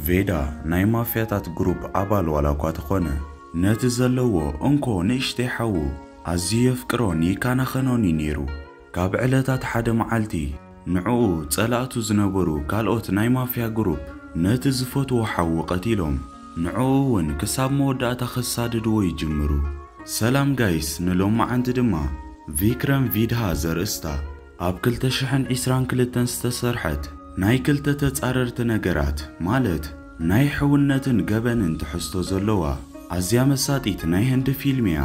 ቬዳ ናይ ማፍያታት ግሩፕ ኣባል ዋላ እኳ ተኾነ፣ ነቲ ዘለዎ እንኮ ንእሽተይ ሓዉ ኣዝዩ የፍቅሮን ይከናኸኖን እዩ ነይሩ። ካብ ዕለታት ሓደ መዓልቲ፣ ንዕኡ ጸላእቱ ዝነበሩ ካልኦት ናይ ማፍያ ግሩፕ ነቲ ዝፈትዎ ሓዉ ቀቲሎም። ንዕኡ ውን ክሳብ መወዳእታ ከሳድድዎ ይጅምሩ። ሰላም ጋይስ ንሎማዓንቲ ድማ ቪክረም ቪድሃ ዘርእስታ ኣብ ክልተ ሽሕን ዒስራን ክልተን ዝተሰርሐት ናይ ክልተ ተጻረርቲ ነገራት ማለት ናይ ሕውነትን ገበንን ትሕዝቶ ዘለዋ ኣዝያ መሳጢት ናይ ህንዲ ፊልም እያ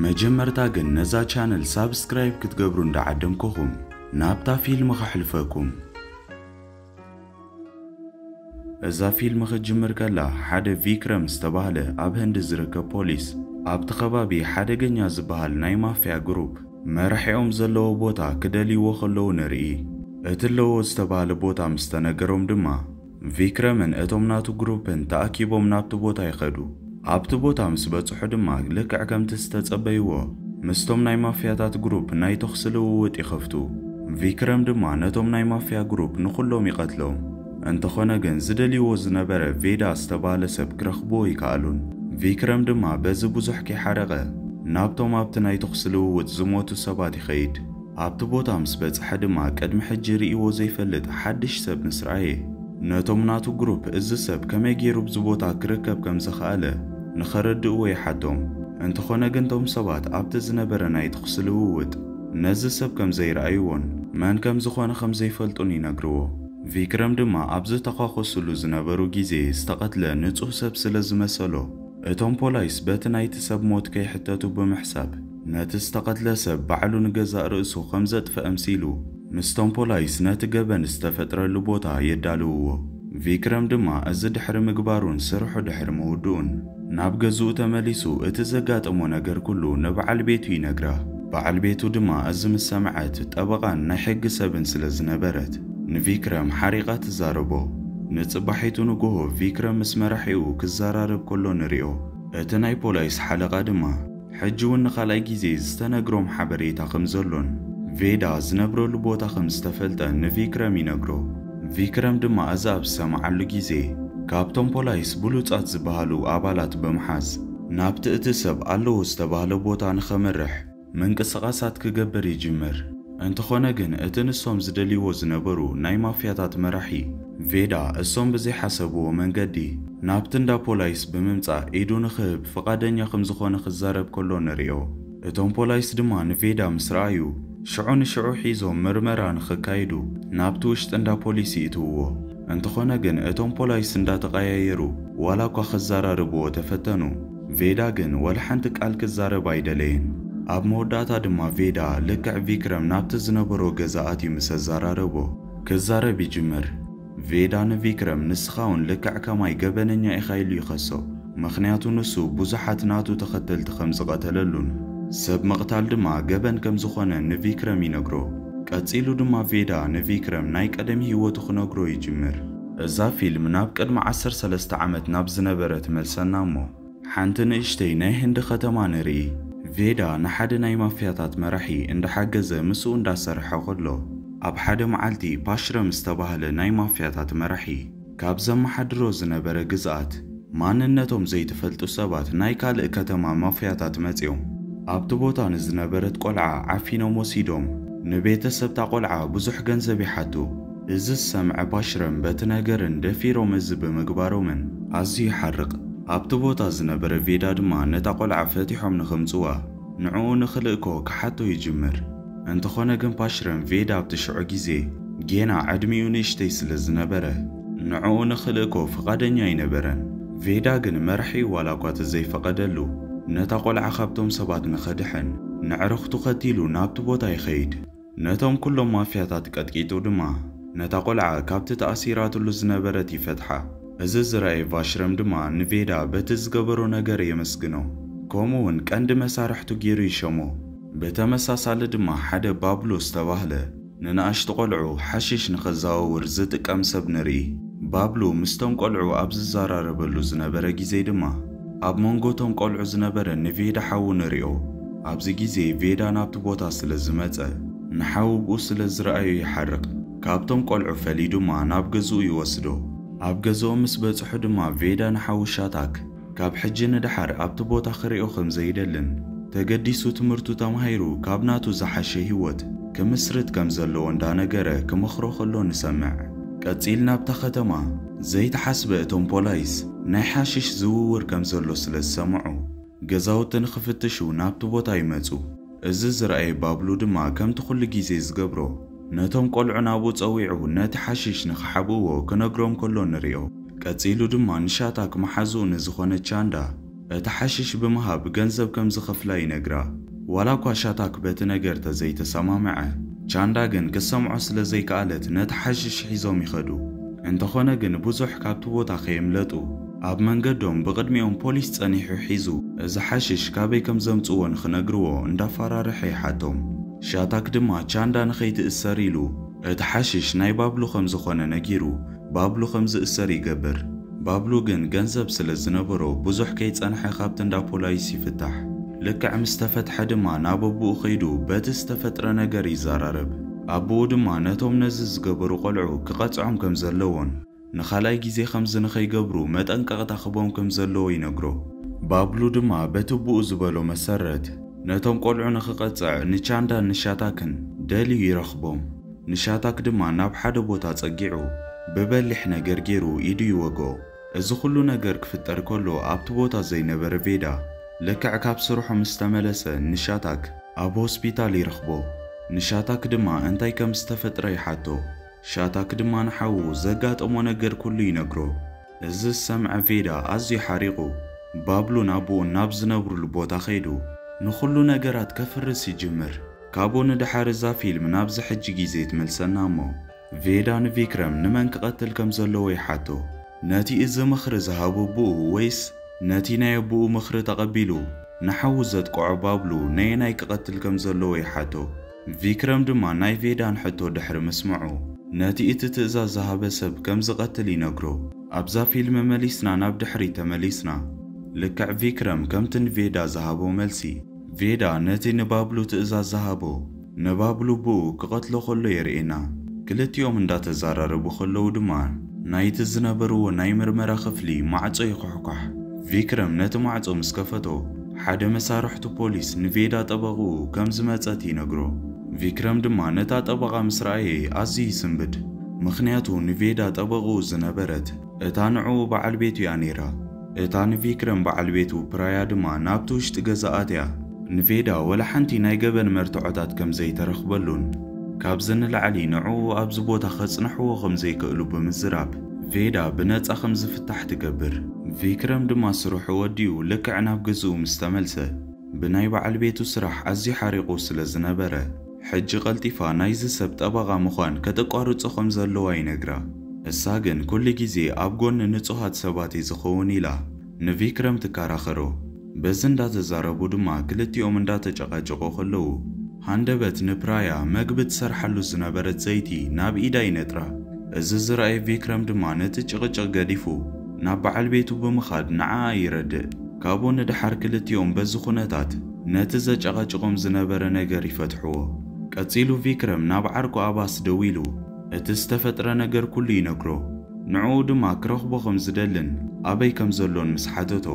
መጀመርታ ግን ነዛ ቻነል ሳብስክራይብ ክትገብሩ እንዳዓደምኩኹም ናብታ ፊልም ከሕልፈኩም እዛ ፊልም ክትጅምር ከላ ሓደ ቪክረም ዝተባህለ ኣብ ህንዲ ዝርከብ ፖሊስ ኣብቲ ከባቢ ሓደገኛ ዝበሃል ናይ ማፍያ ግሩፕ መራሒኦም ዘለዎ ቦታ ክደልይዎ ከለዉ ንርኢ። እቲ ኣለዎ ዝተባህለ ቦታ ምስ ተነገሮም ድማ ቪክረምን እቶም ናቱ ግሩፕን ተኣኪቦም ናብቲ ቦታ ይኸዱ። ኣብቲ ቦታ ምስ በጽሑ ድማ ልክዕ ከምቲ ዝተጸበይዎ ምስቶም ናይ ማፍያታት ግሩፕ ናይ ተኹሲ ልውውጥ ይኸፍቱ። ቪክረም ድማ ነቶም ናይ ማፍያ ግሩፕ ንኹሎም ይቐትሎም። እንተኾነ ግን ዝደልይዎ ዝነበረ ቬዳ ዝተባህለ ሰብ ክረኽብዎ ኣይከኣሉን። ቪክረም ድማ በዚ ብዙሕ ከይሓረቐ ናብቶም ኣብቲ ናይ ተኹሲ ልውውጥ ዝሞቱ ሰባት ይኸይድ። ኣብቲ ቦታ ምስ በጽሐ ድማ ቅድሚ ሕጂ ርእይዎ ዘይፈልጥ ሓድሽ ሰብ ምስ ረኣየ፣ ነቶም ናቱ ግሩፕ እዚ ሰብ ከመይ ገይሩ ኣብዚ ቦታ ክርከብ ከም ዝኸኣለ ንኸረድእዎ ይሓቶም። እንተኾነ ግን እቶም ሰባት ኣብቲ ዝነበረ ናይ ተኹሲ ልውውጥ ነዚ ሰብ ከም ዘይረኣይዎን መን ከም ዝኾነ ከም ዘይፈልጡን ይነግርዎ። ቪክረም ድማ ኣብ ዝተዃኾሱሉ ዝነበሩ ግዜ ዝተቐትለ ንጹህ ሰብ ስለ ዝመሰሎ፣ እቶም ፖላይስ በቲ ናይቲ ሰብ ሞት ከይሕተቱ ብምሕሳብ፣ ነቲ ዝተቐትለ ሰብ ባዕሉ ንገዛእ ርእሱ ከም ዘጥፍእ ኣምሲሉ፣ ምስቶም ፖላይስ ነቲ ገበን ዝተፈጥረሉ ቦታ የዳልውዎ። ቪክረም ድማ እዚ ድሕሪ ምግባሩን ስርሑ ድሕሪ ምውድኡን፣ ናብ ገዝኡ ተመሊሱ እቲ ዘጋጠሞ ነገር ኩሉ ንበዓል ቤቱ ይነግራ። በዓል ቤቱ ድማ እዚ ምስ ሰምዐት፣ ጠበቓን ናይ ሕጊ ሰብን ስለ ዝነበረት፣ ንቪክረም ሓሪቓ ትዛረቦ። ንጽባሒቱ ንጎሆ ቪክረም ምስ መራሒኡ ክዘራረብ ከሎ ንሪኦ። እቲ ናይ ፖላይስ ሓለቓ ድማ፣ ሕጂ እውን ንኻልኣይ ግዜ ዝተነግሮም ሓበሬታ ከም ዘሎን ቬዳ ዝነብረሉ ቦታ ከም ዝተፈልጠን ንቪክረም ይነግሮ። ቪክረም ድማ እዚ ኣብ ዝሰምዓሉ ግዜ ካብቶም ፖላይስ ብሉጻት ዝበሃሉ ኣባላት ብምሓዝ ናብቲ እቲ ሰብ ኣለዎ ዝተባህለ ቦታ ንኸምርሕ ምንቅስቓሳት ክገብር ይጅምር። እንተኾነ ግን እቲ ንሶም ዝደልይዎ ዝነበሩ ናይ ማፍያታት መራሒ ቬዳ እሶም ብዘይሓሰብዎ መንገዲ ናብቲ እንዳ ፖላይስ ብምምጻእ ኢዱ ንኽህብ ፍቓደኛ ክምዝኾነ ክዛረብ ከሎ ንሪኦ። እቶም ፖላይስ ድማ ንቬዳ ምስ ረኣዩ ሽዑ ንሽዑ ሒዞም ምርመራ ንኽካይዱ ናብቲ ውሽጢ እንዳ ፖሊስ ይእትውዎ። እንተኾነ ግን እቶም ፖላይስ እንዳተቐያየሩ ዋላኳ ክዛራርብዎ ተፈተኑ፣ ቬዳ ግን ዋላ ሓንቲ ቃል ክዛረብ ኣይደለየን። ኣብ መወዳእታ ድማ ቬዳ ልክዕ ቪክረም ናብቲ ዝነበሮ ገዛ ኣትዩ ምስ ኣዛራረቦ ክዛረብ ይጅምር። ቬዳ ንቪክረም ንስኻ ውን ልክዕ ከማይ ገበነኛ ኢኻ ኢሉ ይኸሶ። ምኽንያቱ ንሱ ብዙሓት ናቱ ተኸተልቲ ከም ዝቐተለሉን ሰብ ምቕታል ድማ ገበን ከም ዝኾነን ንቪክረም ይነግሮ። ቀጺሉ ድማ ቬዳ ንቪክረም ናይ ቀደም ሂወቱ ክነግሮ ይጅምር። እዛ ፊልም ናብ ቅድሚ ዓሰርተ ሰለስተ ዓመት ናብ ዝነበረ ትመልሰና እሞ ሓንቲ ንእሽተይ ናይ ህንዲ ከተማ ንርኢ። ቬዳ ንሓደ ናይ ማፍያታት መራሒ እንዳሓገዘ ምስኡ እንዳሰርሐ ከሎ ኣብ ሓደ መዓልቲ ፓሽረም ዝተባህለ ናይ ማፍያታት መራሒ ካብ ዘመሓድሮ ዝነበረ ግዝኣት ማንነቶም ዘይተፈልጡ ሰባት ናይ ካልእ ከተማ ማፍያታት መጽዮም ኣብቲ ቦታ ንዝነበረት ቆልዓ ዓፊኖም ወሲዶም ንቤተሰብታ ቆልዓ ብዙሕ ገንዘብ ይሓቱ። እዚ ዝሰምዐ ፓሽረም በቲ ነገርን ደፊሮም እዚ ብምግባሮምን ኣዝዩ ይሓርቕ። ኣብቲ ቦታ ዝነበረ ቬዳ ድማ ነታ ቆልዓ ፈቲሖም ንኸምጽዋ ንዕኡ ንኽልእኮ ክሓቶ ይጅምር። እንተኾነ ግን ፓሽረም ቬዳ ኣብቲ ሽዑ ግዜ ጌና ዕድሚኡ ንእሽተይ ስለ ዝነበረ ንዕኡ ንኽልእኮ ፍቓደኛ ኣይነበረን። ቬዳ ግን መራሒኡ ዋላኳ ተዘይፈቐደሉ ነታ ቆልዓ ካብቶም ሰባት ንኸድሕን ነዕርኽቱ ከቲሉ ናብቲ ቦታ ይኸይድ። ነቶም ኩሎም ማፍያታት ቀጥቂጡ ድማ ነታ ቆልዓ ካብቲ ተኣሲራትሉ ዝነበረት ይፈትሓ። እዚ ዝረኣየ ቫሽረም ድማ ንቬዳ በቲ ዝገበሮ ነገር የመስግኖ ከምኡ'ውን ቀንዲ መሳርሕቱ ጌሩ ይሸሞ። ብተመሳሳሊ ድማ ሓደ ባብሎ ዝተባህለ ንንኣሽቱ ቆልዑ ሓሽሽ ንኸዘዋውር ዝጥቀም ሰብ ንርኢ። ባብሎ ምስቶም ቆልዑ ኣብ ዝዘራረበሉ ዝነበረ ግዜ ድማ፣ ኣብ መንጎ እቶም ቆልዑ ዝነበረ ንቬዳ ሓዉ ንሪኦ። ኣብዚ ግዜ ቬዳ ናብቲ ቦታ ስለ ዝመጸ ንሓዉ ብኡ ስለ ዝረኣዮ ይሓርቅ። ካብቶም ቆልዑ ፈልዩ ድማ ናብ ገዝኡ ይወስዶ። ኣብ ገዝኦም ምስ በጽሑ ድማ ቬዳ ንሓዉ ሻታክ ካብ ሕጂ ንደሓር ኣብቲ ቦታ ክሪኦ ከም ዘይደልን ተገዲሱ ትምህርቱ ተማሂሩ ካብ ናቱ ዝሓሸ ሂወት ክምስርት ከም ዘለዎ እንዳነገረ ክመኽሮ ከሎ ንሰምዕ። ቀጺልና ኣብታ ከተማ። ዘይተሓስበ እቶም ፖላይስ ናይ ሓሽሽ ዝውውር ከም ዘሎ ስለ ዝሰምዑ ገዛውቲ ንኽፍትሹ ናብቲ ቦታ ይመጹ። እዚ ዝረኣየ ባብሉ ድማ ከምቲ ኩሉ ግዜ ዝገብሮ ነቶም ቆልዑ ናብኡ ጸዊዑ ነቲ ሓሽሽ ንኽሓብእዎ ክነግሮም ከሎ ንሪኦ። ቀጺሉ ድማ ንሻታክ መሓዝኡ ንዝኾነት ቻንዳ እቲ ሓሽሽ ብምሃብ ገንዘብ ከም ዝኸፍላ ይነግራ። ዋላኳ ሻታክ በቲ ነገር ተዘይተሰማምዐ፣ ቻንዳ ግን ክትሰምዖ ስለ ዘይከኣለት ነቲ ሓሽሽ ሒዞም ይኸዱ። እንተኾነ ግን ብዙሕ ካብቲ ቦታ ከየምለጡ። ኣብ መንገዶም ብቕድሚኦም ፖሊስ ጸኒሑ ሒዙ። እዚ ሓሽሽ ካበይ ከም ዘምጽዎ ንኽነግርዎ እንዳፋራርሐ ይሓቶም። ሻታክ ድማ ቻንዳ ንኸይትእሰር ኢሉ እቲ ሓሽሽ ናይ ባብሉ ከም ዝኾነ ነጊሩ ባብሉ ከም ዝእሰር ይገብር። ባብሉ ግን ገንዘብ ስለ ዝነበሮ ብዙሕ ከይጸንሐ ካብቲ እንዳ ፖላይስ ይፍታሕ። ልክዕ ምስ ተፈትሐ ድማ ናብ ኣቡኡ ከይዱ በቲ ዝተፈጥረ ነገር ይዛራረብ። ኣቡኡ ድማ ነቶም ነዚ ዝገበሩ ቆልዑ ክቐጽዖም ከም ዘለዎን ንኻልኣይ ግዜ ከምዚ ንኸይገብሩ መጠንቀቕታ ክህቦም ከም ዘለዎ ይነግሮ። ባብሉ ድማ በቲ ኣቡኡ ዝበሎ መሰረት ነቶም ቆልዑ ንኽቐጽዕ ንቻንዳን ንሻታክን ደልዩ ይረኽቦም። ንሻታክ ድማ ናብ ሓደ ቦታ ጸጊዑ ብበሊሕ ነገር ጌሩ ኢዱ ይወግኦ። እዚ ኹሉ ነገር ክፍጠር ከሎ ኣብቲ ቦታ ዘይነበረ ቬዳ ልክዕ ካብ ስርሑ ምስ ተመለሰ ንሻታክ ኣብ ሆስፒታል ይረኽቦ። ንሻታክ ድማ እንታይ ከም ዝተፈጥረ ይሓቶ። ሻታክ ድማ ንሓዉ ዘጋጠሞ ነገር ኩሉ ይነግሮ። እዚ ዝሰምዐ ቬዳ ኣዝዩ ሓሪቑ ባብሉን ኣቡኡን ናብ ዝነብሩሉ ቦታ ከይዱ ንኹሉ ነገራት ከፍርስ ይጅምር። ካብኡ ንደሓር እዛ ፊልም ናብዚ ሕጂ ግዜ ትመልሰና እሞ ቬዳ ንቪክረም ንመን ክቀትል ከም ዘለዎ ይሓቶ ነቲ እዚ ምኽሪ ዝሃቦ ኣቡኡ ወይስ ነቲ ናይ ኣቡኡ ምኽሪ ተቀቢሉ ንሓዉ ዘጥቅዖ ባብሉ ነየናይ ክቀትል ከም ዘለዎ ይሓቶ ቪክረም ድማ ናይ ቬዳን ሕቶ ድሕሪ ምስምዑ ነቲ እቲ ትእዛዝ ዝሃበ ሰብ ከም ዝቀትል ይነግሮ ኣብዛ ፊልም መሊስና ናብ ድሕሪት ተመሊስና ልክዕ ቪክረም ከምቲ ንቬዳ ዝሃቦ መልሲ ቬዳ ነቲ ንባብሉ ትእዛዝ ዝሃቦ፣ ንባብሉ ብኡ ክቐትሎ ከሎ የርእየና። ክልቲኦም እንዳተዛራረቡ ከለዉ ድማ ናይቲ ዝነበርዎ ናይ ምርመራ ክፍሊ ማዕጾ ይኹሕኳሕ። ቪክረም ነቲ ማዕጾ ምስ ከፈቶ፣ ሓደ መሳርሕቱ ፖሊስ ንቬዳ ጠበቕኡ ከም ዝመጸት ይነግሮ። ቪክረም ድማ ነታ ጠበቓ ምስ ረኣየ ኣዝዩ ይስንብድ። ምኽንያቱ ንቬዳ ጠበቕኡ ዝነበረት እታ ንዕኡ በዓል ቤቱ'ያ ነይራ። እታ ንቪክረም በዓል ቤቱ ፕራያ ድማ ናብቲ ውሽጢ ገዛ ኣትያ፣ ንቬዳ ወላ ሓንቲ ናይ ገበን መርትዖታት ከም ዘይተረኽበሉን ካብዚ ንላዕሊ ንዕኡ ኣብዚ ቦታ ከጽንሕዎ ከም ዘይክእሉ ብምዝራብ ቬዳ ብነጻ ከም ዝፍታሕ ትገብር። ቪክረም ድማ ስርሑ ወዲኡ ልክዕ ናብ ገዝኡ ምስ ተመልሰ፣ ብናይ በዓል ቤቱ ስራሕ ኣዝዩ ሓሪቑ ስለ ዝነበረ፣ ሕጂ ቀልጢፋ ናይዚ ሰብ ጠበቓ ምዃን ከተቋርጾ ከም ዘለዋ ይነግራ። ንሳ ግን ኩሉ ግዜ ኣብ ጎኒ ንጹሃት ሰባት እየ ዝኸውን ኢላ ንቪክረም ትከራኸሮ። በዚ እንዳተዛረቡ ድማ ክልቲኦም እንዳተጨቃጨቁ ከለዉ ሃንደበት ንፕራያ መግቢ ትሰርሓሉ ዝነበረት ዘይቲ ናብ ኢዳ ይነጥራ። እዚ ዝረኣየ ቪክረም ድማ ነቲ ጭቅጭቅ ገዲፉ ናብ በዓል ቤቱ ብምኻድ ንዓኣ ይረድእ። ካብኡ ንደሓር ክልቲኦም በዚ ኩነታት። ነቲ ዘጨቐጭቖም ዝነበረ ነገር ይፈትሕዎ። ቀጺሉ ቪክረም ናብ ዓርኩ ኣባስ ደዊሉ እቲ ዝተፈጥረ ነገር ኩሉ ይነግሮ። ንዕኡ ድማ ክረኽቦ ከም ዝደልን ኣበይ ከም ዘሎን ምስ ሓተቶ፣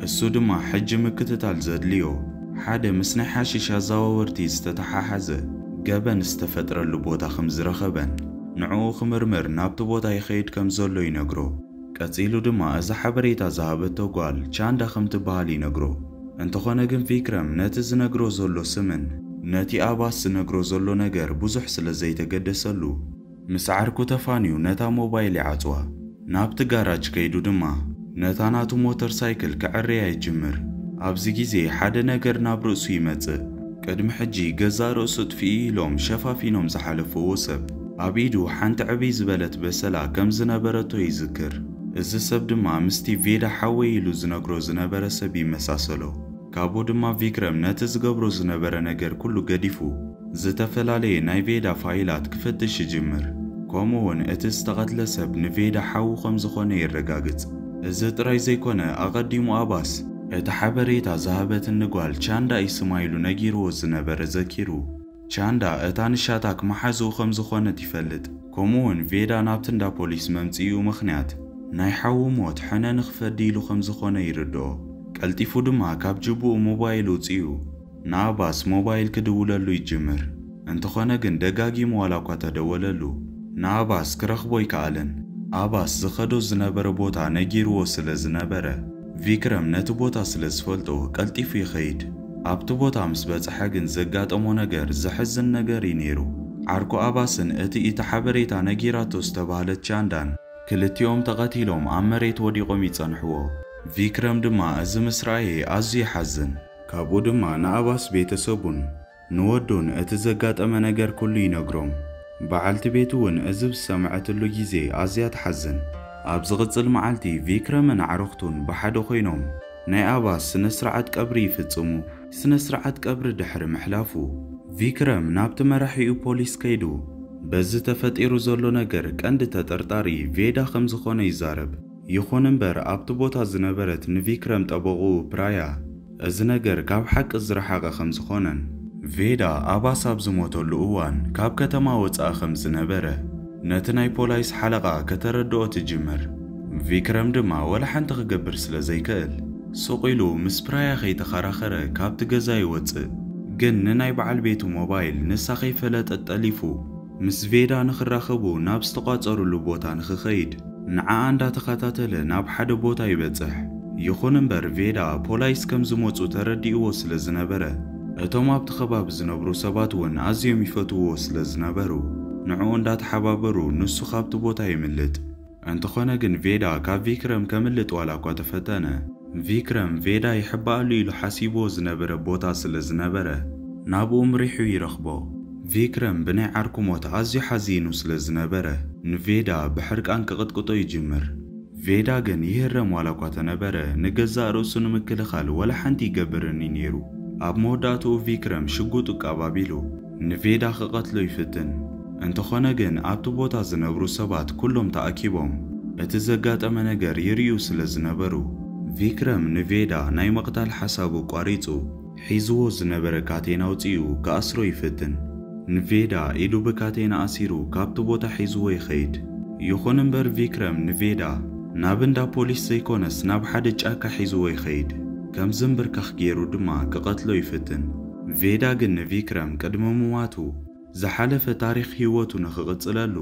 እሱ ድማ ሕጂ ምክትታል ዘድልዮ ሓደ ምስ ናይ ሓሺሽ ኣዘዋወርቲ ዝተተሓሓዘ ገበን ዝተፈጥረሉ ቦታ ከም ዝረኸበን ንዕኡ ክምርምር ናብቲ ቦታ ይኸይድ ከም ዘሎ ይነግሮ። ቀጺሉ ድማ እዚ ሓበሬታ ዝሃበቶ ጓል ቻንዳ ከም ትበሃል ይነግሮ። እንተኾነ ግን ቪክረም ነቲ ዝነግሮ ዘሎ ስምን ነቲ ኣባስ ዝነግሮ ዘሎ ነገር ብዙሕ ስለ ዘይተገደሰሉ፣ ምስ ዓርኩ ተፋንዩ ነታ ሞባይል ይዓጽዋ። ናብቲ ጋራጅ ከይዱ ድማ ነታ ናቱ ሞተር ሳይክል ከዐርያ ይጅምር። ኣብዚ ግዜ ሓደ ነገር ናብ ርእሱ ይመጽእ። ቅድሚ ሕጂ ገዛእ ርእሱ እጥፍኢ ኢሎም ሸፋፊኖም ዝሓለፍዎ ሰብ፣ ኣብ ኢዱ ሓንቲ ዕብይ ዝበለት በሰላ ከም ዝነበረቶ ይዝክር። እዚ ሰብ ድማ ምስቲ ቬዳ ሓወይ ኢሉ ዝነግሮ ዝነበረ ሰብ ይመሳሰሎ። ካብኡ ድማ ቪክረም ነቲ ዝገብሮ ዝነበረ ነገር ኩሉ ገዲፉ ዝተፈላለየ ናይ ቬዳ ፋይላት ክፍትሽ ይጅምር። ከምኡ'ውን እቲ ዝተቐትለ ሰብ ንቬዳ ሓዉ ከም ዝኾነ የረጋግጽ። እዚ ጥራይ ዘይኮነ ኣቐዲሙ ኣባስ እቲ ሓበሬታ ዝሃበትኒ ጓል ቻንዳ እዩ ስማ ኢሉ ነጊርዎ ዝነበረ ዘኪሩ። ቻንዳ እታ ንሻታክ መሓዝኡ ከም ዝኾነት ይፈልጥ። ከምኡ'ውን ቬዳ ናብቲ እንዳ ፖሊስ መምጽኢኡ ምኽንያት ናይ ሓዉ ሞት ሕነ ንኽፈዲ ኢሉ ከም ዝኾነ ይርድኦ። ቀልጢፉ ድማ ካብ ጅብኡ ሞባይል ኣውጺኡ ንኣባስ ሞባይል ክድውለሉ ይጅምር። እንተኾነ ግን ደጋጊሙ ዋላኳ ተደወለሉ ንኣባስ ክረኽቦ ኣይከኣለን። ኣባስ ዝኸዶ ዝነበረ ቦታ ነጊርዎ ስለ ዝነበረ ቪክረም ነቲ ቦታ ስለ ዝፈልጦ ቀልጢፉ ይኸይድ። ኣብቲ ቦታ ምስ በጽሐ ግን ዘጋጠሞ ነገር ዘሕዝን ነገር እዩ ነይሩ። ዓርኩ ኣባስን እቲ እቲ ሓበሬታ ነጊራቶ ዝተባህለት ቻንዳን ክልቲኦም ተቐቲሎም ኣብ መሬት ወዲቖም ይጸንሕዎ። ቪክረም ድማ እዚ ምስ ረኣየ ኣዝዩ ይሓዝን። ካብኡ ድማ ንኣባስ ቤተሰቡን ንወዱ ንእቲ ዘጋጠመ ነገር ኩሉ ይነግሮም። በዓልቲ ቤቱ ውን እዚ ብዝሰምዐትሉ ግዜ ኣዝያ ትሓዝን። ኣብ ዝቕጽል መዓልቲ ቪክረምን ኣዕሩኽቱን ብሓደ ኮይኖም ናይ ኣባስ ስነ-ስርዓት ቀብሪ ይፍጽሙ። ስነ-ስርዓት ቀብሪ ድሕሪ ምሕላፉ ቪክረም ናብቲ መራሒኡ ፖሊስ ከይዱ በዚ ተፈጢሩ ዘሎ ነገር ቀንዲ ተጠርጣሪ ቬዳ ከምዝኾነ ይዛረብ። ይኹን እምበር ኣብቲ ቦታ ዝነበረት ንቪክረም ጠበቕኡ ፕራያ እዚ ነገር ካብ ሓቂ ዝረሓቐ ከም ዝኾነን፣ ቬዳ ኣባስ ኣብ ዝሞተሉ እዋን ካብ ከተማ ወጻኢ ከም ዝነበረ ነቲ ናይ ፖላይስ ሓለቓ ከተረድኦ ትጅምር፣ ቪክረም ድማ ወላ ሓንቲ ክገብር ስለ ዘይከእል ሱቕ ኢሉ ምስ ፕራያ ከይተኸራኸረ ካብቲ ገዛ ይወጽእ፣ ግን ንናይ በዓል ቤቱ ሞባይል ንሳ ከይፈለጠት ጠሊፉ። ምስ ቬዳ ንኽራኸቡ ናብ ዝተቋጸሩሉ ቦታ ንኽኸይድ ንዓኣ እንዳተኸታተለ ናብ ሓደ ቦታ ይበጽሕ። ይኹን እምበር ቬዳ ፖላይስ ከም ዝመጹ ተረዲእዎ ስለ ዝነበረ እቶም ኣብቲ ከባቢ ዝነብሩ ሰባት እውን ኣዝዮም ይፈትውዎ ስለ ዝነበሩ ንዕኡ እንዳተሓባበሩ ንሱ ካብቲ ቦታ የምልጥ። እንተኾነ ግን ቬዳ ካብ ቪክረም ከምልጥ ዋላኳ ተፈተነ፣ ቪክረም ቬዳ ይሕባኣሉ ኢሉ ሓሲብዎ ዝነበረ ቦታ ስለ ዝነበረ ናብኡ ምሪሑ ይረኽቦ። ቪክረም ብናይ ዓርኩ ሞት ኣዝዩ ሓዚኑ ስለ ዝነበረ ንቬዳ ብሕርቃን ክቕጥቅጦ ይጅምር። ቬዳ ግን ይህረም ዋላኳ ተነበረ ንገዛእ ርእሱ ንምክልኻል ወላ ሓንቲ ይገብርን እዩ ነይሩ። ኣብ መወዳእትኡ ቪክረም ሽጉጡ ቃብ ኣቢሉ። ንቬዳ ክቐትሎ ይፍትን። እንተኾነ ግን ኣብቲ ቦታ ዝነብሩ ሰባት ኩሎም ተኣኪቦም እቲ ዘጋጠመ ነገር ይርእዩ ስለ ዝነበሩ፣ ቪክረም ንቬዳ ናይ ምቕታል ሓሳቡ ኣቋሪጹ ሒዝዎ ዝነበረ ካቴና ኣውጺኡ ክኣስሮ ይፍትን። ንቬዳ ኢዱ ብካቴና ኣሲሩ ካብቲ ቦታ ሒዝዎ ይኸይድ። ይኹን እምበር ቪክረም ንቬዳ ናብ እንዳ ፖሊስ ዘይኮነስ ናብ ሓደ ጫካ ሒዝዎ ይኸይድ። ከም ዝምብርካኽ ገይሩ ድማ ክቐትሎ ይፍትን። ቬዳ ግን ንቪክረም ቅድሚ ምሟቱ፣ ዝሓለፈ ታሪኽ ህይወቱ ንኽቕጽለሉ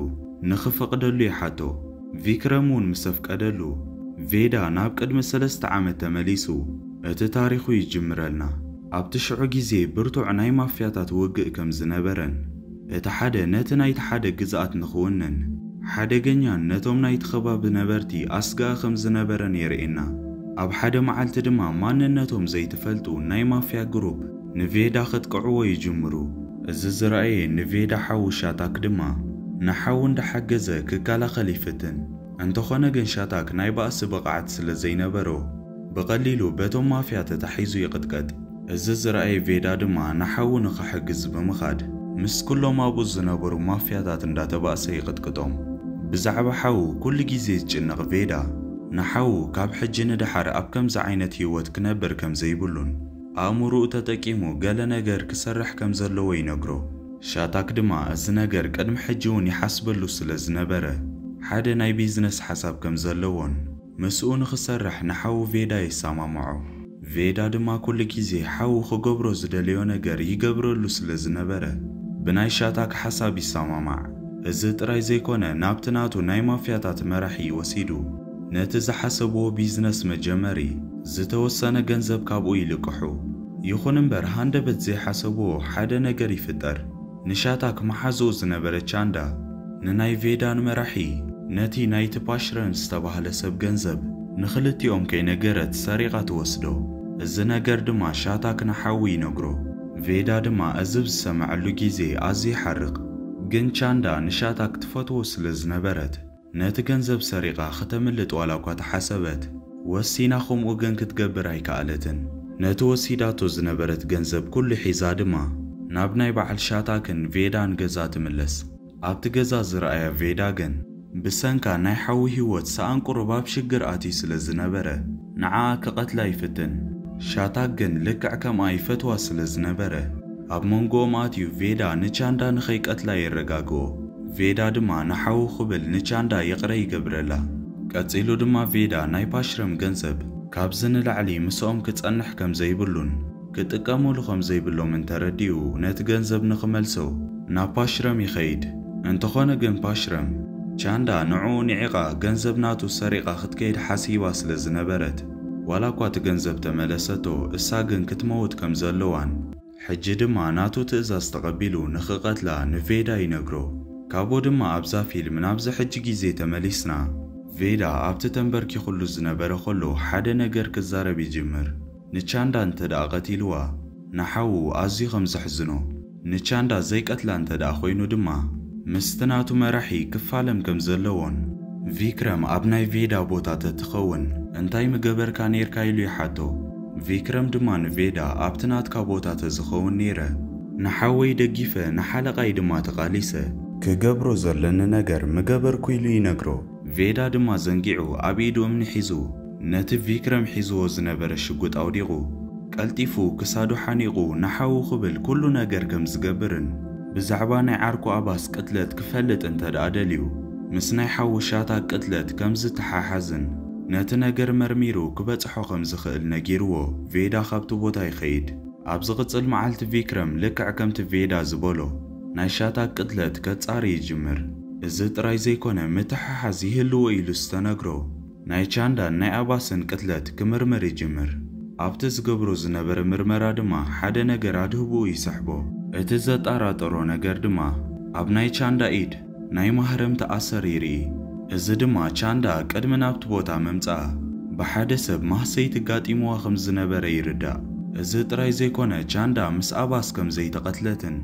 ንኽፈቕደሉ ይሓቶ። ቪክረም እውን ምስ ኣፍቀደሉ፣ ቬዳ ናብ ቅድሚ ሰለስተ ዓመት ተመሊሱ እቲ ታሪኹ ይጅምረልና። ኣብቲ ሽዑ ግዜ ብርቱዕ ናይ ማፍያታት ውግእ ከም ዝነበረን፣ እቲ ሓደ ነቲ ናይቲ ሓደ ግዝኣት ንኽውንን ሓደገኛን ነቶም ናይቲ ከባቢ ነበርቲ ኣስጋኢ ከም ዝነበረን የርእየና። ኣብ ሓደ መዓልቲ ድማ ማንነቶም ዘይትፈልጡ ናይ ማፍያ ግሩፕ ንቬዳ ከጥቅዕዎ ይጅምሩ። እዚ ዝረኣየ ንቬዳ ሓዉ ሻታክ ድማ ንሓዉ እንዳሓገዘ ክከላኸል ይፍትን። እንተኾነ ግን ሻታክ ናይ ባእሲ ብቕዓት ስለ ዘይነበሮ ብቐሊሉ በቶም ማፍያ ተታሒዙ ይቕጥቀጥ። እዚ ዝረኣየ ቬዳ ድማ ንሓዉ ንኽሕግዝ ብምኻድ ምስ ኩሎም ኣብኡ ዝነበሩ ማፍያታት እንዳተባእሰ ይቕጥቅጦም። ብዛዕባ ሓዉ ኩሉ ግዜ ዝጭነቕ ቬዳ፣ ንሓዉ ካብ ሕጂ ንደሓር ኣብ ከምዚ ዓይነት ህይወት ክነብር ከም ዘይብሉን ኣእምሮኡ ተጠቂሙ ገለ ነገር ክሰርሕ ከም ዘለዎ ይነግሮ። ሻታክ ድማ እዚ ነገር ቅድሚ ሕጂ'ውን ይሓስበሉ ስለ ዝነበረ ሓደ ናይ ቢዝነስ ሓሳብ ከም ዘለዎን፣ ምስኡ ንኽሰርሕ ንሓዉ ቬዳ የሰማምዖ። ቬዳ ድማ ኩሉ ግዜ ሓዉ ክገብሮ ዝደለዮ ነገር ይገብረሉ ስለ ዝነበረ ብናይ ሻታክ ሓሳብ ይሰማማዕ። እዚ ጥራይ ዘይኮነ ናብቲ ናቱ ናይ ማፍያታት መራሒ ወሲዱ ነቲ ዝሓሰብዎ ቢዝነስ መጀመሪ ዝተወሰነ ገንዘብ ካብኡ ይልቅሑ። ይኹን እምበር ሃንደበት ዘይሓሰብዎ ሓደ ነገር ይፍጠር። ንሻታክ መሓዝኡ ዝነበረ ቻንዳ ንናይ ቬዳን መራሒ ነቲ ናይ ትፓሽረን ዝተባህለ ሰብ ገንዘብ ንኽልቲኦም ከይነገረት ሰሪቓ ትወስዶ። እዚ ነገር ድማ ሻታክ ንሓዉ ይነግሮ። ቬዳ ድማ እዚ ብ ዝሰመዐሉ ግዜ ኣዝዩ ይሓርቕ። ግን ቻንዳ ንሻታክ ትፈትዎ ስለ ዝነበረት ነቲ ገንዘብ ሰሪቓ ክተምልጥ ዋላኳ ተሓሰበት፣ ወሲና ከምኡ ግን ክትገብር ኣይከኣለትን። ነቲ ወሲዳቶ ዝነበረት ገንዘብ ኩሉ ሒዛ ድማ ናብ ናይ በዓል ሻታክን ቬዳን ገዛ ትምለስ። ኣብቲ ገዛ ዝረኣያ ቬዳ ግን ብሰንካ ናይ ሓዊ ህይወት ሰኣን ቁሩብ ኣብ ሽግር ኣትዩ ስለ ዝነበረ፣ ንዓኣ ክቀትላ ይፍትን ሻታግ ግን ልክዕ ከምኣ ይፈትዋ ስለ ዝነበረ ኣብ መንጎኦም ኣትዩ ቬዳ ንቻንዳ ንከይቀትላ የረጋግኦ ቬዳ ድማ ንሓዉ ክብል ንቻንዳ ይቅረ ይገብረላ ቀጺሉ ድማ ቬዳ ናይ ፓሽረም ገንዘብ ካብዚ ንላዕሊ ምስኦም ክጸንሕ ከምዘይብሉን ክጥቀሙሉ ከም ዘይብሎም እንተረዲኡ ነቲ ገንዘብ ንኽመልሶ ናብ ፓሽረም ይኸይድ። እንተኾነ ግን ፓሽረም፣ ቻንዳ ንዕኡ ንዒቓ ገንዘብ ናቱ ሰሪቓ ክትከይድ ሓሲባ ስለ ዝነበረት ዋላ እኳ እቲ ገንዘብ ተመለሰቶ እሳ ግን ክትመውት ከም ዘለዋን ሕጂ ድማ ናቱ ትእዛዝ ተቐቢሉ ንኽቐትላ ንቬዳ ይነግሮ። ካብኡ ድማ ኣብዛ ፊልም ናብዚ ሕጂ ግዜ ተመሊስና ቬዳ ኣብቲ ተንበርኪኹሉ ዝነበረ ከሎ ሓደ ነገር ክዛረብ ይጅምር። ንቻንዳ እንተድኣ ቀቲልዋ ንሓዉ ኣዝዩ ከም ዘሕዝኖ፣ ንቻንዳ ዘይቀትላ እንተድኣ ኮይኑ ድማ ምስቲ ናቱ መራሒ ክፋለም ከም ዘለዎን፣ ቪክረም ኣብ ናይ ቬዳ ቦታ ተትኸውን እንታይ ምገበርካ ኔርካ ኢሉ ይሓቶ፣ ቪክረም ድማ ንቬዳ ኣብቲ ናትካ ቦታ ተዝኸውን ኔረ ንሓወይ ደጊፈ ንሓለቓይ ድማ ተቓሊሰ፣ ክገብሮ ዘለኒ ነገር ምገበርኩ ኢሉ ይነግሮ። ቬዳ ድማ ዘንጊዑ ኣብ ኢዱ እምኒ ሒዙ ነቲ ቪክረም ሒዝዎ ዝነበረ ሽጉጥ ኣውዲቑ ቀልጢፉ ክሳዱ ሓኒቑ ንሓዉ ክብል ኩሉ ነገር ከም ዝገብርን ብዛዕባ ናይ ዓርኩ ኣባስ ቅትለት ክፈልጥ እንተድኣ ደልዩ ምስ ናይ ሓዉ ሻታ ቅትለት ከም ዝተሓሓዝን ነቲ ነገር መርሚሩ ክበጽሖ ከም ዝኽእል ነጊርዎ ቬዳ ካብቲ ቦታ ይኸይድ። ኣብ ዝቕጽል መዓልቲ ቪክረም ልክዕ ከምቲ ቬዳ ዝበሎ። ናይ ሻታግ ቅትለት ከጻሪ ይጅምር። እዚ ጥራይ ዘይኮነ ምትሕሓዝ ይህልዎ ኢሉ ዝተነግሮ ናይ ቻንዳን ናይ ኣባስን ቅትለት ክምርምር ይጅምር። ኣብቲ ዝገብሮ ዝነበረ ምርመራ ድማ ሓደ ነገር ኣድህብኡ ይሰሕቦ። እቲ ዘጣራጠሮ ነገር ድማ ኣብ ናይ ቻንዳ ኢድ፣ ናይ ማህረምቲ ኣሰሪሪ እዚ ድማ ቻንዳ ቅድሚ ናብቲ ቦታ ምምጽኣ ብሓደ ሰብ ማህሰይቲ ኣጋጢምዋ ከም ዝነበረ ይርዳእ። እዚ ጥራይ ዘይኮነ ቻንዳ ምስ ኣባስ ከም ዘይተቐትለትን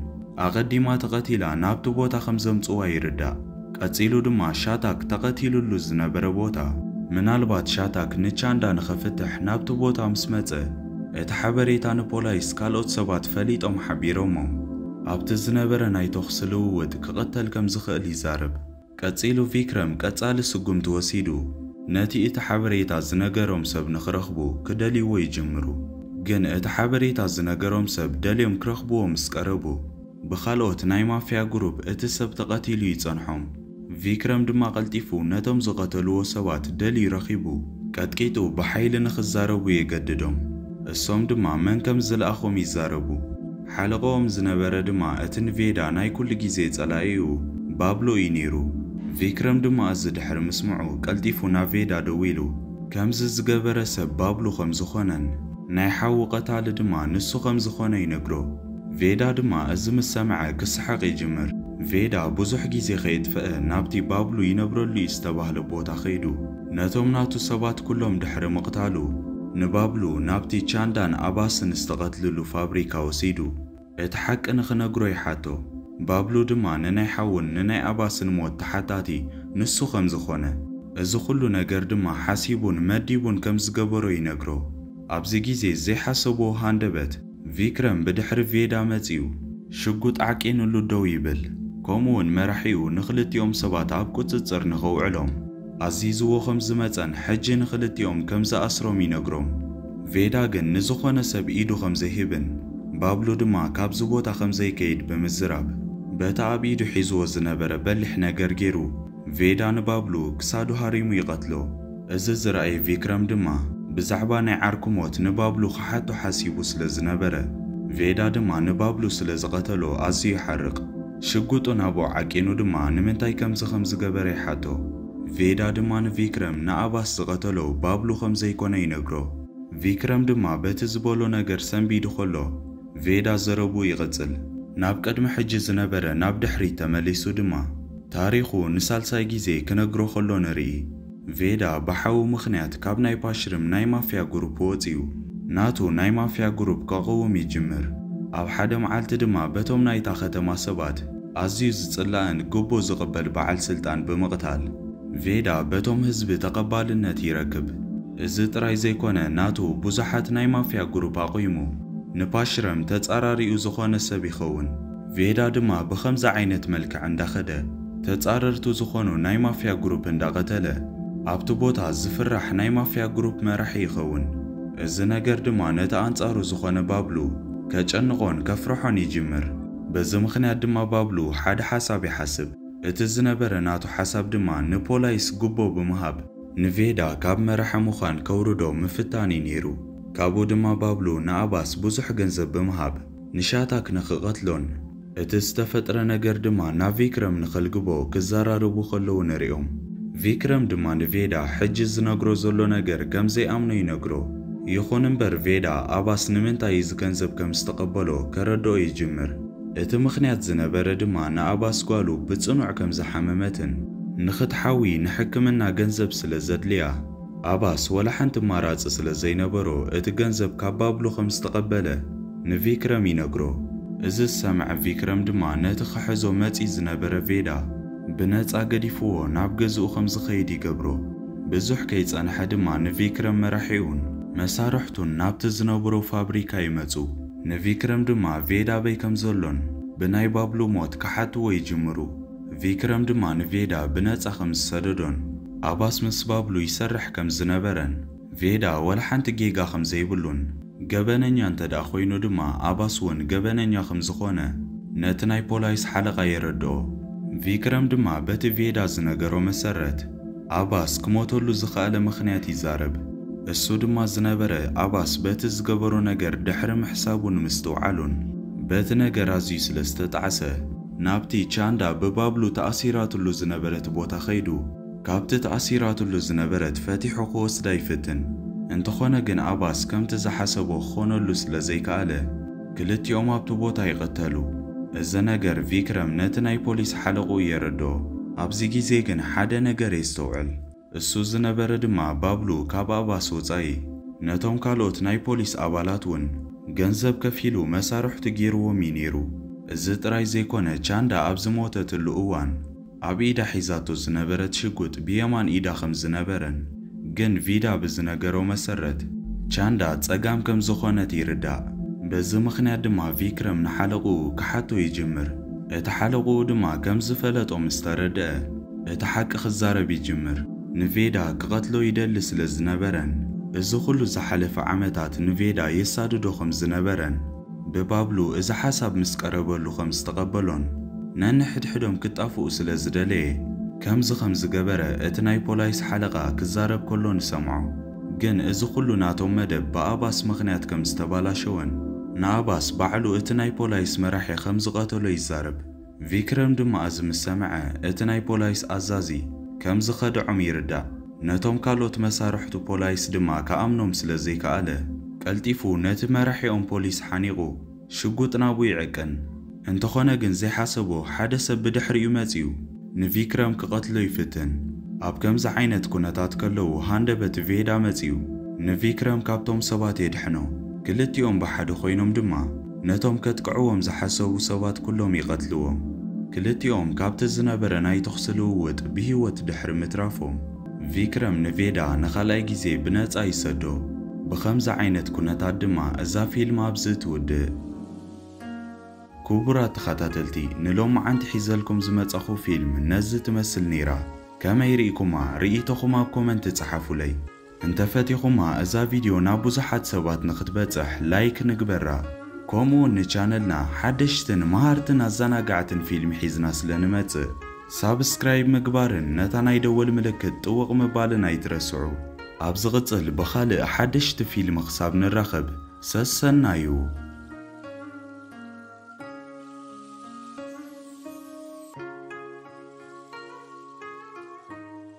ኣቐዲማ ተቐቲላ ናብቲ ቦታ ከም ዘምጽዋ ይርዳእ። ቀጺሉ ድማ ሻታክ ተቐቲሉሉ ዝነበረ ቦታ። ምናልባት ሻታክ ንቻንዳ ንኸፍትሕ ናብቲ ቦታ ምስ መጸ እቲ ሓበሬታ ንፖላይስ ካልኦት ሰባት ፈሊጦም ሓቢሮሞም። ኣብቲ ዝነበረ ናይ ተዅሲ ልውውጥ ክቕተል ከም ዝኽእል ይዛረብ። ቀጺሉ ቪክረም ቀጻሊ ስጕምቲ ወሲዱ፣ ነቲ እቲ ሓበሬታ ዝነገሮም ሰብ ንኽረኽቡ ክደልይዎ ይጅምሩ። ግን እቲ ሓበሬታ ዝነገሮም ሰብ ደልዮም ክረኽብዎ ምስ ቀረቡ፣ ብኻልኦት ናይ ማፍያ ግሩፕ እቲ ሰብ ተቐቲሉ ይጸንሖም። ቪክረም ድማ ቀልጢፉ ነቶም ዝቐተልዎ ሰባት ደልዩ ረኺቡ ቀጥቂጡ ብሓይሊ ንኽዛረቡ የገድዶም። እሶም ድማ መን ከም ዝለኣኾም ይዛረቡ። ሓለቓኦም ዝነበረ ድማ እቲ ንቬዳ ናይ ኩሉ ግዜ ጸላኢኡ ባብሎ እዩ ነይሩ። ቪክረም ድማ እዚ ድሕሪ ምስምዑ ቀልጢፉ ናብ ቬዳ ደዊሉ ከምዚ ዝገበረ ሰብ ባብሉ ከም ዝኾነን ናይ ሓዉ ቀታሊ ድማ ንሱ ከም ዝኾነ ይነግሮ። ቬዳ ድማ እዚ ምስ ሰምዐ ክስሕቕ ይጅምር። ቬዳ ብዙሕ ግዜ ከየጥፈኣ ናብቲ ባብሉ ይነብረሉ እዩ ዝተባህለ ቦታ ከይዱ ነቶም ናቱ ሰባት ኩሎም ድሕሪ ምቕታሉ ንባብሉ ናብቲ ቻንዳን ኣባስን ዝተቐትልሉ ፋብሪካ ወሲዱ እቲ ሓቂ ንኽነግሮ ይሓቶ። ባብሉ ድማ ንናይ ሓዉን ንናይ ኣባስን ሞት ተሓታቲ ንሱ ከም ዝኾነ እዚ ኩሉ ነገር ድማ ሓሲቡን መዲቡን ከም ዝገበሮ ይነግሮ። ኣብዚ ግዜ ዘይሓሰብዎ ሃንደበት ቪክረም ብድሕሪ ቬዳ መጺኡ ሽጉጥ ዓቂንሉ ደው ይብል፣ ከምኡ'ውን መራሒኡ ንኽልቲኦም ሰባት ኣብ ቍጽጽር ንኸውዕሎም ኣዚዝዎ ከም ዝመጸን ሕጂ ንኽልቲኦም ከም ዝኣስሮም ይነግሮም። ቬዳ ግን ንዝዀነ ሰብ ኢዱ ከም ዘይህብን ባብሉ ድማ ካብዚ ቦታ ከም ዘይከይድ ብምዝራብ በቲ ኣብ ኢዱ ሒዝዎ ዝነበረ በሊሕ ነገር ገይሩ ቬዳ ንባብሉ ክሳዱ ሃሪሙ ይቐትሎ። እዚ ዝረኣየ ቪክረም ድማ ብዛዕባ ናይ ዓርኩ ሞት ንባብሉ ክሓቶ ሓሲቡ ስለ ዝነበረ፣ ቬዳ ድማ ንባብሉ ስለ ዝቐተሎ ኣዝዩ ይሓርቕ። ሽጉጡ ናብኡ ዓቂኑ ድማ ንምንታይ ከምዚ ከም ዝገበረ ይሓቶ። ቬዳ ድማ ንቪክረም ንኣባስ ዝቐተሎ ባብሉ ከም ዘይኮነ ይነግሮ። ቪክረም ድማ በቲ ዝበሎ ነገር ሰንቢዱ ከሎ፣ ቬዳ ዘረብኡ ይቕጽል። ናብ ቅድሚ ሕጂ ዝነበረ ናብ ድሕሪት ተመሊሱ ድማ ታሪኹ ንሳልሳይ ግዜ ክነግሮ ከሎ ንርኢ። ቬዳ ብሓዉ ምኽንያት ካብ ናይ ፓሽርም ናይ ማፍያ ጉሩፕ ወጺኡ ናቱ ናይ ማፍያ ጉሩፕ ከቕውም ይጅምር። ኣብ ሓደ መዓልቲ ድማ በቶም ናይታ ከተማ ሰባት ኣዝዩ ዝጽላእን ግቦ ዝቕበል በዓል ስልጣን ብምቕታል፣ ቬዳ በቶም ህዝቢ ተቀባልነት ይረክብ። እዚ ጥራይ ዘይኮነ ናቱ ቡዙሓት ናይ ማፍያ ጉሩፕ ኣቁይሙ ንፓሽረም ተጻራሪኡ ዝኮነ ሰብ ይከውን ቬዳ ድማ ብከምዚ ዓይነት መልክዕ እንዳከደ ተጻረርቱ ዝኮኑ ናይ ማፍያ ጉሩፕ እንዳቀተለ ኣብቲ ቦታ ዝፍራሕ ናይ ማፍያ ጉሩፕ መራሒ ይከውን እዚ ነገር ድማ ነቲ ኣንጻሩ ዝኮነ ባብሉ ከጨንቆን ከፍርሖን ይጅምር በዚ ምክንያት ድማ ባብሉ ሓደ ሓሳብ ይሓስብ እቲ ዝነበረ ናቱ ሓሳብ ድማ ንፖላይስ ጉቦ ብምሃብ ንቬዳ ካብ መራሒ ምዃን ከውርዶ ምፍታን እዩ ነይሩ። ካብኡ ድማ ባብሉ ንኣባስ ብዙሕ ገንዘብ ብምሃብ ንሻታክ ንክቐትሎን እቲ ዝተፈጥረ ነገር ድማ ናብ ቪክረም ንከልግቦ ክዘራረቡ ከለዉ ንሪኦም። ቪክረም ድማ ንቬዳ ሕጂ ዝነግሮ ዘሎ ነገር ከም ዘይኣምኖ ይነግሮ። ይኹን እምበር ቬዳ ኣባስ ንምንታይ እዚ ገንዘብ ከም ዝተቐበሎ ከረድኦ ይጅምር። እቲ ምኽንያት ዝነበረ ድማ ንኣባስ ጓሉ ብጽኑዕ ከም ዝሓመመትን ንኽትሓዊ ንሕክምና ገንዘብ ስለ ዘድልያ፣ ኣባስ ወላ ሓንቲ ኣማራጺ ስለ ዘይነበሮ እቲ ገንዘብ ካብ ባብሉ ከም ዝተቐበለ ንቪክረም ይነግሮ። እዚ ዝሰምዐ ቪክረም ድማ ነቲ ክሕዞ መጺኡ ዝነበረ ቬዳ ብነጻ ገዲፍዎ ናብ ገዝኡ ከም ዝኸይድ ይገብሮ። ብዙሕ ከይጸንሐ ድማ ንቪክረም መራሒኡን መሳርሕቱን ናብቲ ዝነብሮ ፋብሪካ ይመጹ። ንቪክረም ድማ ቬድ ኣበይ ከም ዘሎን ብናይ ባብሉ ሞት ክሓትዎ ይጅምሩ። ቪክረም ድማ ንቬዳ ብነጻ ከም ዝሰደዶን ኣባስ ምስ ባብሉ ይሰርሕ ከም ዝነበረን ቬዳ ዋላ ሓንቲ ጌጋ ከም ዘይብሉን ገበነኛ እንተድኣ ኮይኑ ድማ ኣባስ እውን ገበነኛ ከም ዝኾነ ነቲ ናይ ፖላይስ ሓለቓ የረድኦ። ቪክረም ድማ በቲ ቬዳ ዝነገሮ መሰረት ኣባስ ክሞተሉ ዝኸኣለ ምኽንያት ይዛረብ። እሱ ድማ ዝነበረ ኣባስ በቲ ዝገበሮ ነገር ድሕሪ ምሕሳቡን ምስትውዓሉን በቲ ነገር ኣዝዩ ስለ ዝተጣዕሰ ናብቲ ቻንዳ ብባብሉ ተኣሲራትሉ ዝነበረት ቦታ ከይዱ ካብቲ ተኣሲራትሉ ዝነበረት ፈቲሑ ክወስዳ ይፍትን እንተኾነ ግን ኣባስ ከምቲ ዝሓሰቦ ክኾነሉ ስለ ዘይከኣለ ክልቲኦም ኣብቲ ቦታ ይቕተሉ። እዚ ነገር ቪክረም ነቲ ናይ ፖሊስ ሓለቕኡ የረድኦ። ኣብዚ ግዜ ግን ሓደ ነገር የስተውዕል። እሱ ዝነበረ ድማ ባብሉ ካብ ኣባስ ወጻኢ ነቶም ካልኦት ናይ ፖሊስ ኣባላት እውን ገንዘብ ከፊሉ መሳርሕቱ ገይርዎም እዩ ነይሩ። እዚ ጥራይ ዘይኮነ ቻንዳ ኣብ ዝሞተትሉ እዋን ኣብ ኢዳ ሒዛቶ ዝነበረት ሽጉጥ ብየማን ኢዳ ከም ዝነበረን ግን ቪዳ ብዝነገሮ መሰረት ቻንዳ ጸጋም ከም ዝኾነት ይርዳእ። በዚ ምኽንያት ድማ ቪክረም ንሓለቕኡ ክሓቶ ይጅምር። እቲ ሓለቕኡ ድማ ከም ዝፈለጦ ምስ ተረደኣ እቲ ሓቂ ክዛረብ ይጅምር። ንቬዳ ክቐትሎ ይደሊ ስለ ዝነበረን እዚ ኹሉ ዝሓለፈ ዓመታት ንቬዳ የሳድዶ ከም ዝነበረን፣ ብባብሉ እዚ ሓሳብ ምስ ቀረበሉ ኸም ዝተቐበሎን ነንሕድሕዶም ክጣፍኡ ስለ ዝደለየ ከምዚ ኸም ዝገበረ እቲ ናይ ፖላይስ ሓለቓ ክዛረብ ከሎ ንሰምዖ። ግን እዚ ኹሉ ናቶም መደብ ብኣባስ ምኽንያት ከም ዝተባላሸወን ንኣባስ ባዕሉ እቲ ናይ ፖላይስ መራሒ ኸም ዝቐተሎ ይዛረብ። ቪክረም ድማ እዚ ምስ ሰምዐ፣ እቲ ናይ ፖላይስ ኣዛዚ ከም ዝኸድዖም ይርዳእ። ነቶም ካልኦት መሳርሕቱ ፖላይስ ድማ ክኣምኖም ስለ ዘይከኣለ፣ ቀልጢፉ ነቲ መራሒኦም ፖሊስ ሓኒቑ ሽጉጥ ናብኡ ይዕቅን። እንተኾነ ግን ዘይሓሰቦ ሓደ ሰብ ብድሕሪኡ መጺኡ ንቪክረም ክቐትሎ ይፍትን። ኣብ ከምዚ ዓይነት ኩነታት ከለዉ ሃንደበት ቬዳ መጺኡ ንቪክረም ካብቶም ሰባት የድሕኖ። ክልቲኦም ብሓደ ኮይኖም ድማ ነቶም ከጥቅዕዎም ዝሓሰቡ ሰባት ኩሎም ይቐትልዎም። ክልቲኦም ካብቲ ዝነበረ ናይ ተኹሲ ልውውጥ ብህይወት ድሕሪ ምትራፎም፣ ቪክረም ንቬዳ ንኻልኣይ ግዜ ብነጻ ይሰዶ። ብኸምዚ ዓይነት ኩነታት ድማ እዛ ፊልም ኣብዚ ትውድእ። ኩቡራት ተኻታተልቲ ንሎማዓንቲ ሒዘልኩም ዝመጻኹ ፊልም ነዚ ትመስል ነይራ። ከመይ ሪኢኩማ ሪኢቶኹም ኣብ ኮመንቲ ጸሓፉለይ። እንተ ፈቲኹማ እዛ ቪድዮ ናብ ብዙሓት ሰባት ንኽትበጽሕ ላይክ ንግበራ ኮምኡውን ንቻነልና ሓደሽትን መሃርትን ኣዛናጋዕትን ፊልም ሒዝና ስለ ንመጽእ ሳብስክራይብ ምግባርን ነታ ናይ ደወል ምልክት ጥውቕ ምባልን ኣይትረስዑ ኣብ ዝቕጽል ብኻልእ ሓደሽቲ ፊልም ክሳብ ንራኸብ ሰሰናዩ።